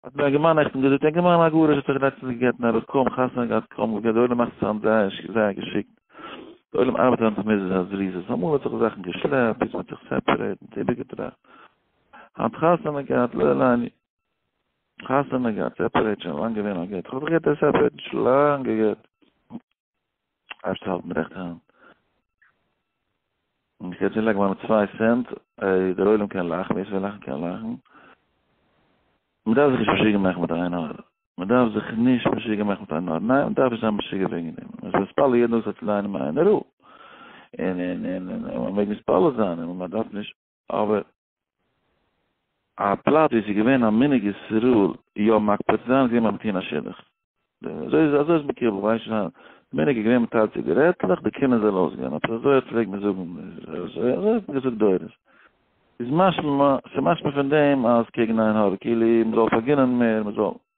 האט מיר א גער מאן נעכטן געזאגט, א גער מאן א גרוש האט זיך לעצטנס געגעטן ארויס, קוים חתונה געהאט, קוים געגעט, די עולם מאכט זיך אן זייער זייער געשיקט, די עולם ארבעט אן תמיזות א זריזות, אמאל האט זיך זאכן געשלעפט, יעצט מען האט זיך סעפערעיט, מען האט איבערגעטראכט, היינט חתונה געהאט, לא לעניין, חתונה געהאט, סעפערעיט, שוין לאנג געווען א גט, כ'האב זיך געהערט ער איז סעפערעיט, שוין לאנג געגט. אייזשט האלטן רעכט האנט. און איך קען לייגן מיינע צוויי סענט, איי דער עולם קען לאכן, ווער ס'וויל לאכן קען לאכן. מען דארף זיך נישט משוגע מאכן מיט איין האר. מען דארף זיך נישט משוגע מאכן מיט איין האר. ניין, מען דארף נישט זיין משוגע וועגן דעם. מען איז מתפלל יעדן טאג זיך צו לייענען מעיין ערוך. און און און און מען מעג מתפלל זיין און מען דארף נישט אבער א פלאץ ווי עס איז געווען א מנהג ישראל יא מקפיד צו זיין איז געווען ביים מתן השלח. אזוי איז אזוי איז מקובל ווייס נישט ווייל די מנהג איז געווען מען טיילט ציגערעטלעך די קינער זאל אויסגיין אפי' אזוי האט פלעגט מען זאגן אזוי אזוי האט מען געזאגט דורות איז משמע ס'משמע פון דעם אז קעגן עין הרע כאילו מען זאל פארגינען מער מען זאל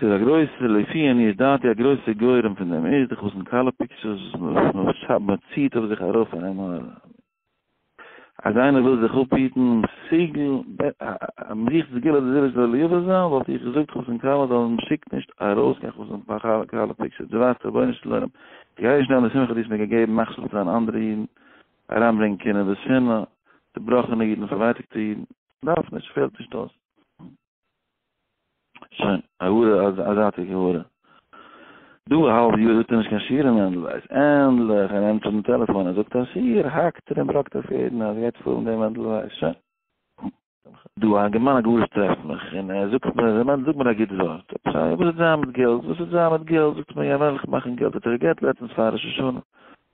ס'איז א גרויסע, לפי עניות דעתי, א גרויסע גורם פון דעם איז די חתן כלה פיקטשערס וואס מ'ציעט אויף זיך ארויף פאר עין הרע. אז איינער וויל זיך אפהיטן, מ'זוכט סגולה די זיווג זאל ליובא זיין, וואלט איך געזאגט חתן כלה זאלן מ'שיקט נישט ארויס קיין חתן כלה פיקטשערס, דו ווייסט רבונו של עולם, כ'גיי נישט נעמען די שמחה דו האסט מיר געגעבן מכשיל צו זיין אנדערע אידן, אריינברענגען קנאה ושנאה, צובראכענע אידן, פארווייטאגטע אידן. דארף נישט, פעלט נישט אויס. שוין, א הארה, א זייטיגע הארה. דא א האלב יאר זאגט ער נישט קיין שיעור אין מענדל ווייס. ענדליך ער נעמט אן טעלעפאן און זאגט א שיעור, האקט ער און בראקט אויף יעדן אז גייט פאלן דעם מענדל ווייס. שוין. דא א געמיינע גרוש טרעפט מיך און ער זאגט מיר, ר' מענדל זאג מיר א גוט ווארט. עפעס א, וואס האט זיין מיט געלט? וואס האט זיין מיט געלט? זאגט ער מיר, יא, וועלכע מאכן געלט האט ער גע'גט לעצטנס פאר ראש השנה.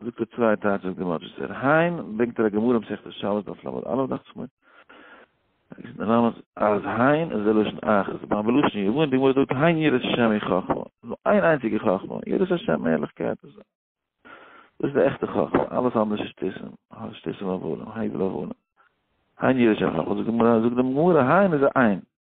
זאגט ער צוויי טייטשעס גמאטשעס ער היין ברענגט ער א גמרא מסכת שבת דף למד אלף דאכט זיך מיר איז דער נאמען אז היין איז דער לשון אח איז באם בלשון יוון די גמרא זאגט היין ירא שם אין חכמה נו איין איינציגע חכמה ירא שם ערליכקייט דאס איז די עכטע חכמה אלעס אנדערש איז שטיסם שטיסם אבולם הייבל אבולם היין ירא שם חכמה זאגט דעם גמרא היין איז א איין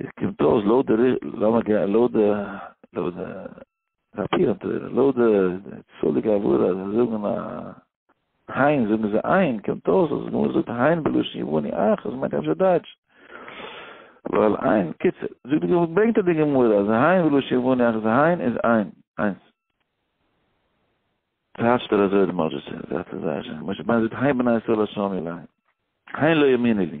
עס קומט אויס לויט די לאמיר גיין לויט די לויט די פאפיר און תורה לויט די צאליגע עבודה זיי זאגן א היין זאגן זיי איין קומט אויס אז גמרא זאגט היין בלשון יווני אח אז מיינט אפשר דייטש ווייל איין קיצ זאגט די גמרא ברענגט די גמרא אז היין בלשון יווני אח אז היין איז איין איינס טייטשט ער אזוי די משה זאגט זיי זאגט היין בני ישראל השם אלי היין לא יאמינו לי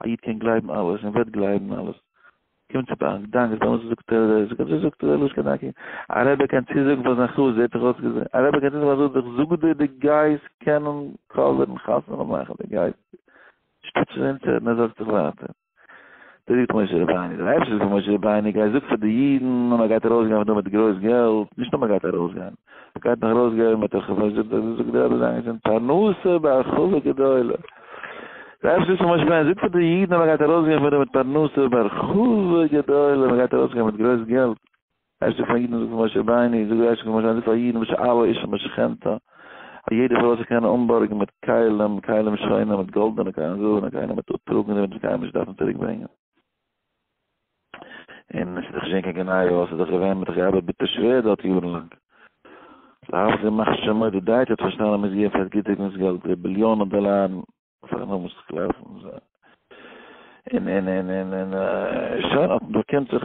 א איד קען גלייבן אלעס און וועט גלייבן אלעס. קומט צו ביי א גדאנק אז טאמער זאגט ער אזוי זאגט אזוי זאגט אזוי לשכת דרכי. א רבי קען צוזאגן פאר זיין חבר זעט זיך אויס געז. א רבי קען צוזאגן פאר זיין חבר זאג דיר די גייסט קענען קאווערן חתונה מאכן די גייסט שטאט שוין אונטער און ער זארגט זיך ווייטער. דער איד פון משה רבינו דער אייבערשטער זאגט פון משה רבינו גיי זאג פאר די אידן אז מען גייט ארויסגיין פון דא מיט גרויס געלט נישט נאר מען גייט ארויסגיין. גייט נאך ארויס געבן מיט א חופה זאגט דער זאגט דער רבי זיין געזונט פרנסה בהרחבה גדולה רב שליט א משה פיין זאגט פאר די אידן אז מען גייט ארויס געבן פון מיט פרנסה בהרחבה גדולה מען גייט ארויס געבן מיט גרויס געלט ער שליט פאר אידן זאגט משה בייני זאגט ער שליט משה זאגט פאר אידן וואס אלע איש משכנתא א יעדער פאר וואס ער קען אנבארגן מיט כלים כלים שוינים מיט גאלדענע כלים זילבערנע כלים מיט אטרוגן זיי וועלן עס קיינמאל נישט דארפן צוריק ברענגען. אין איז דאך שוין קיין געניי אויס איז דאך געווען מיט רעב ביטע שווער דארט יארן לאנג לאו זי מאכט שוין מויד די דייט האט פארשטאנען אז מ'איז געווען פאר גיטוגנס געלט די ביליאנע דאלארן פאר נאמען צו קלאפן זיי אין אין אין אין אין שוין האט מען דערקענט זיך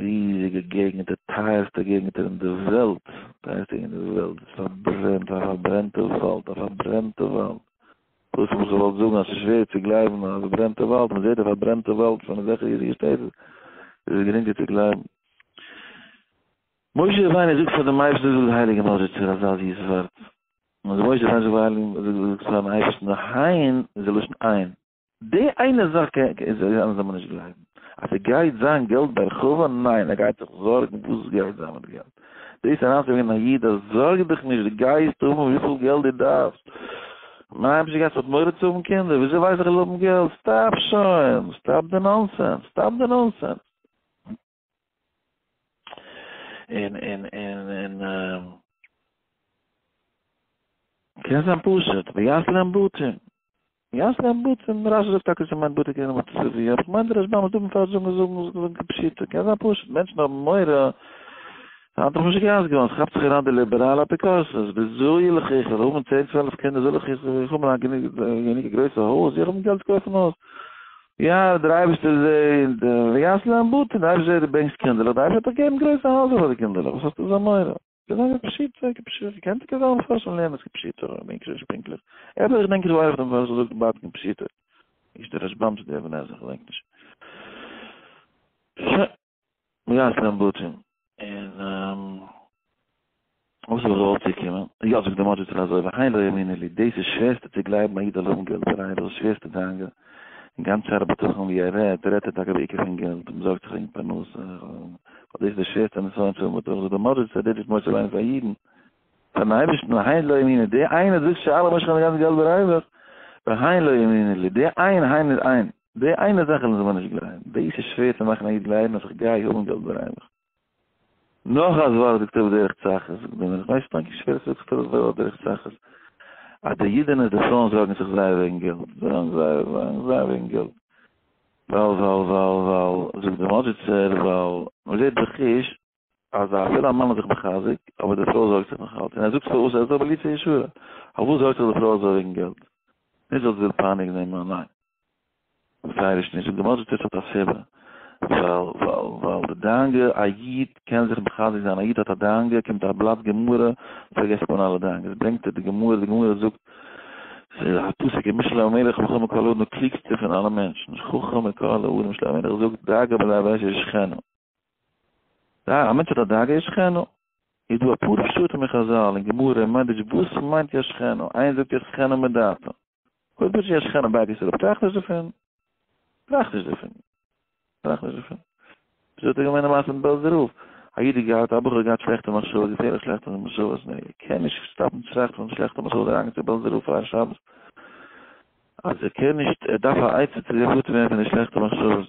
ריזיגע געגנטער, טייערסטע געגנטער אין די וועלט, טייערסטע געגנט אין די וועלט, איז פארברענט, א פארברענטע וואלד, א פארברענטע וואלד, דאס האב איך געוואלט זאגן אז עס איז שווער צו גלייבן אז פארברענטע וואלד, מען זעט די פארברענטע וואלד פון אזעלכע ריזיגע שטעטל, איז עס גרינגער צו גלייבן. משה רבינו זאגט פאר דעם אייבערשטן זאג די הייליגע נאזיצער א זאל זיס ווארט, און משה רבינו זאגט פאר אייבערשטן זאג פארן אייבערשטן היין איז די לשון איין. די איינע זאך קען איך זיי זאלן מיר נישט גלייבן, אז ס'גייט זיין געלט בהרחבה, ניין, ער גייט זיך זארגן וואס גייט זיין מיט געלט, דאס אריינצוברענגען א איד אז זארג דיך נישט דו גייסט האבן וויפיל געלט דו דארפסט, מיין היימישע גאס האט מורא צו האבן קינדער, וויאזוי ווייס איך איך זאל האבן געלט, סטאפ שוין, סטאפ די נאנסענס, סטאפ די נאנסענס. און און און און און קען זיין פשוט ביאס להם בוטים ביאס להם בוטים רש זאגט טאקע ס'מיינט בוטים קען זיין צווי אבער כ'מיין די רשבם איז דא מפרש זאגן זאגן זאגן כפשוטו קען זיין פשוט מענטשן האבן מורא האט דאך נישט געהאסט געוואלט כאפט זיך אריין די ליבעראלע אפיקורסות וויאזוי ילך איך זאל האבן צען צוועלף קינדער זאל איך איך האבן א גענוג גרויסע הויז איך האבן געלט צו קויפן הויז יא דער אייבערשטער זעהט, ויעש להם בתים, דער אייבערשטער זעהט דו ברענגסט קינדערלעך, דארף ער דיך געבן גרויסע הייזער פאר די קינדערלעך, וואס האסטו אזא מורא? געזאגט א פשוטע כפשוטו, קענט איר כזאל מפרשן לענ ד כפשוטו, איך דענק שוין נישט פונקטליך, עפעס איך דענק איך ווייס דעם פארשער זאגט בה ד כפשוטו, נישט דער רשבם צו דער אבן עזרא, כ'דענק נישט. ווי הייסט דיין בוטשער? און וואס איז ארויס צו קומען? יא זאגט די מאדזשיצער אזוי והי' לא יאמינו לי, דאס איז שווערסטע צו גלייבן א איד זאל האבן געלט בערייער דאס איז שווערסטע דאגה, און גאנץ שער הבטחון ווי ער רעדט, רעדט ער טאקע בעיקר פון געלט, מען זארגט זיך וועגן פרנסה, ווייל דאס איז די שווערסטע נסיון צו האבן בדחן, זאגט די מאדזשיצער דאס איז מוסר זיין פאר אידן, פארן אייבערשטן, והי' לא יאמינו, די איינער זאגט שאלה משכ האט די גאנצע געלט בערייער, והי' לא יאמינו לי, די איינער, הי' איז איין. די איינע זאך לאזן מיר נישט גלייבן, דאס איז שווער צו מאכן א איד גלייבן אז איך גיי האבן געלט ברמב ם. נאך א זווארג זאגט ער בדרך צחות, זאגט דער מלך, ווייסט פאנקי שווער עס זאגסטו דאס בדרך צחות, אז די אידענע און די פרויען זארגן זיך זייער וועגן געלט, זארגן זייער, זארגן זייער וועגן געלט, ווייל, ווייל, ווייל, ווייל, זאגט דער מאדזשיצער, ווייל, מען זעט בחוש, אז אפילו א מאן איז זיך מחזק, אבער די פרוי זארגט זיך נאכאלץ, און ער זאגט זיך אויס ער איז דא בליצי ישועה, פארוואס זארגט זיך די פרוי אזוי וועגן געלט? נישט ווייל זי וויל פייניגן דעם מאן, ניין, ווערייעריש נישט, זאגט די מודז'ה טערץ האט א סיבה, ווייל, ווייל, ווייל די דאנגע, א איד קען זיך מחזק זיין, א איד האט א דאנגע, קומט א בלאט גמרא, פארגעסט מען אלע דאנגעס, ברענגט ער די גמרא, די גמרא זאגט, ס'איז א פסוק אין משלי המלך, חכם מכל האדם, דער קלוגסטער פון אלע מענטשן, חכם מכל האדם, משלי המלך זאגט, דאגה בלב אשת שכנו. א מענטש האט א דאגה ישכנו, איז דא אפאר פשטים אין חזל און גמרא און מדרש וואס מיינט ישכנו, איינער זאגט ישכנו מדעתו, אויב איז ישכנו בייגט עס אראפ טראכט נישט דערפון, טראכט נישט דערפון, טראכט נישט דערפון. וויאזוי האט ער געמיינט די מעשה מיט בעלזער רב? א איד איז געהאט, א בחור האט געהאט שלעכטע מחשבות, געפערליך שלעכטע מחשבות, און ער קען נישט שטאפן די טראכט פון די שלעכטע מחשבות אריינגיין צו בעלזער רב פאר א שבת, אז ער קען נישט, ער דארף א עצה צו זיך פטור ווערן פון די שלעכטע מחשבות.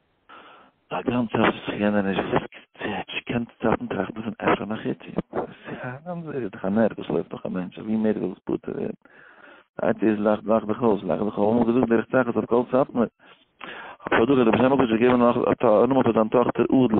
א גאנצע צייט וואס איך קען דיר נישט וואס קעצ'ט קענסטו צייטן טראכטן פון אפשר נאך איציק וואס איך א גאנצע צייט איז דאך א נערוו וואס לויפט דורך א מענטש אז ווי מער איך וויל עס פטור ווערן הייבט איז לאך לאך דיך אויס לאך דיך אויס געזאגט דער רצחת אויף קול סאטמאר אבער דא האט דער בשם הקדוש געגעבן נאך א נאמען פאר זיין טאכטער אדל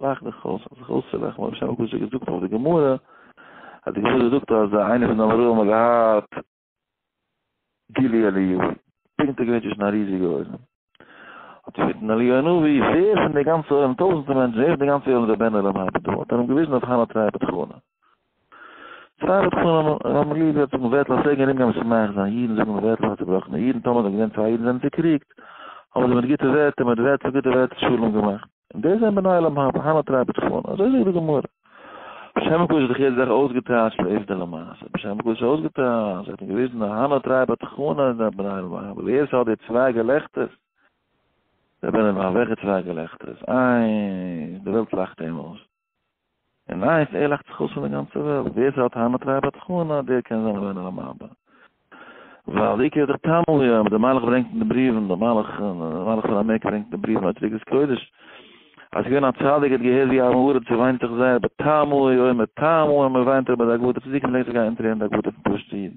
לאך דיך אויס, האב זיך אויסצולאכן, האב שוין פשוט געזאגט אויף די גמרא, אז די גמרא זאגט אז איינער פון די אמוראים האט געהאט גילי אליהו, פונקט ער געווען צווישן א ריזיגע עולם, האט ער געבעטן אליהו הנביא, ווער פון די גאנצע עולם, טויזנטער מענטשן, ווער פון די גאנצע עולם איז א בן עולם הבא דא, האט ער אים געוויזן אויף חנה טרייבט חנה. פאר רבי שלמה אמרי זיע האט זיך מבטל אז פרעגן ארומגיין וואס ס'מאכט זיין אידן זאגן מבטל פאר צובראכענע אידן טאמער זענען געווען צוויי אידן זענען צוקריגט האבן זיי מיט גוטע ווערטער מיט ווערטער גוטע ווערטער שלום געמאכט און דאס זענען בני עולם הבא הנה תראה בצפון אזוי זאגט די גמרא בשם הקודש האט זיך יעדע זאך אויסגעטייטשט לעובדא למעשה בשם הקודש האט אויסגעטייטשט האט מען געוויזן אז הנה תראה בצפון אז די בני עולם הבא ווער ס'האט די צוויי געלעכטערס די בני עולם הבא וועלכע צוויי געלעכטערס איינס די וועלט לאכט אים אויס און ווייסט, ער לאכט זיך אויס פון די גאנצע וועלט, ווער ס'האט טענות אויף רבי חנא, דער קען זיין אווער אינעם ארבע. ווייל די עיקר איז דאך טעמו יא, אבער דער מלאך ברענגט אין די בריוון, דער מלאך, דער מלאך פון עמעק ברענגט אין די בריוון אויף טריקת קודש, אז ס'איז געווען א צדיק, ער האט געהערט ווי עם הארץ וויינט זיך זייער בטעמו יא, און מיט טעמו יא, מ'וויינט זיך ביי די עבודה, צדיקים לייגט זיך גיין אונטער אין די עבודה פון פשוט'ע אידן.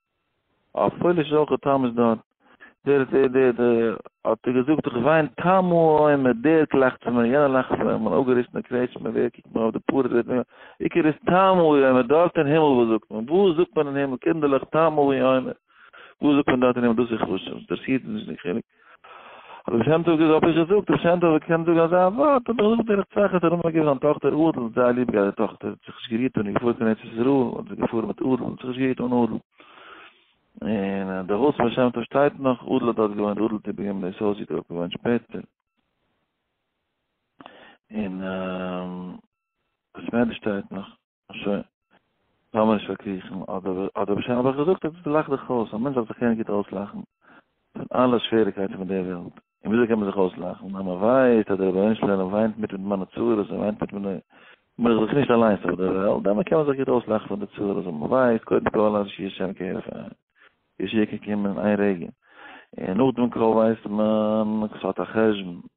אויף פויליש איז אויך א תמוז דארט. דער דער דער דער האט ער געזאגט איך וויין תמו א מ דער קלאכט צו מיר יענער לאכט צו מיר מיין אפגעריסענע קרעטשמע ווער קוקט מיר אויף די פארעד ווערט מיר עיקר איז תמו א מ דארט אין הימל וואס זאגט מען וואס זאגט מען אין הימל קינדערלעך תמו א מ וואס זאגט מען דארט אין הימל דאס איז חשוב דער סיוט איז נישט די חילוק. רבי שם טוב האב איך געזאגט, רבי שם טוב קען זאגן אזא ווארט, האב איך געזאגט דער רצחת האט ארום געגעבן זיין טאכטער אדל, האט זייער ליב געהאט די טאכטער, האט זיך נישט גערירט און איז געפארן קיין ארץ ישראל, און זי געפארן מיט אדל, האט זיך נישט גערירט אן אדל. און די הויז פון רבי שם טוב שטייט נאך, אדל האט דארט געוואוינט, אדל האט איבער געגעבן דאס הויז, זי האט דארט געוואוינט שפעטער. און בית מדרש שטייט נאך. שוין, לאמיר נישט פארקריכן, אדער אדער שוין האב איך געזאגט עפעס צו לאך דיך אויס, א מענטש דארף זיך קענען גוט אויסלאכן פון אלע שוועריקייטן פון דער וועלט, און וויאזוי קען מען זיך אויסלאכן? אז מען ווייסט אז דער רבונו של עולם וויינט מיט מיט מיינע צרות, ער וויינט מיט מיינע בין איך זיך נישט אליינס אויף דער וועלט, דעמאלט קען מען זיך גוט אויסלאכן פון די צרות וואס מען ווייסט קודם כל אז ישי השם כהרף עין, ישועה קען קומען אין איין רגע, און נאכדעם קוים ווייסט מען, ס'האט א חשבון.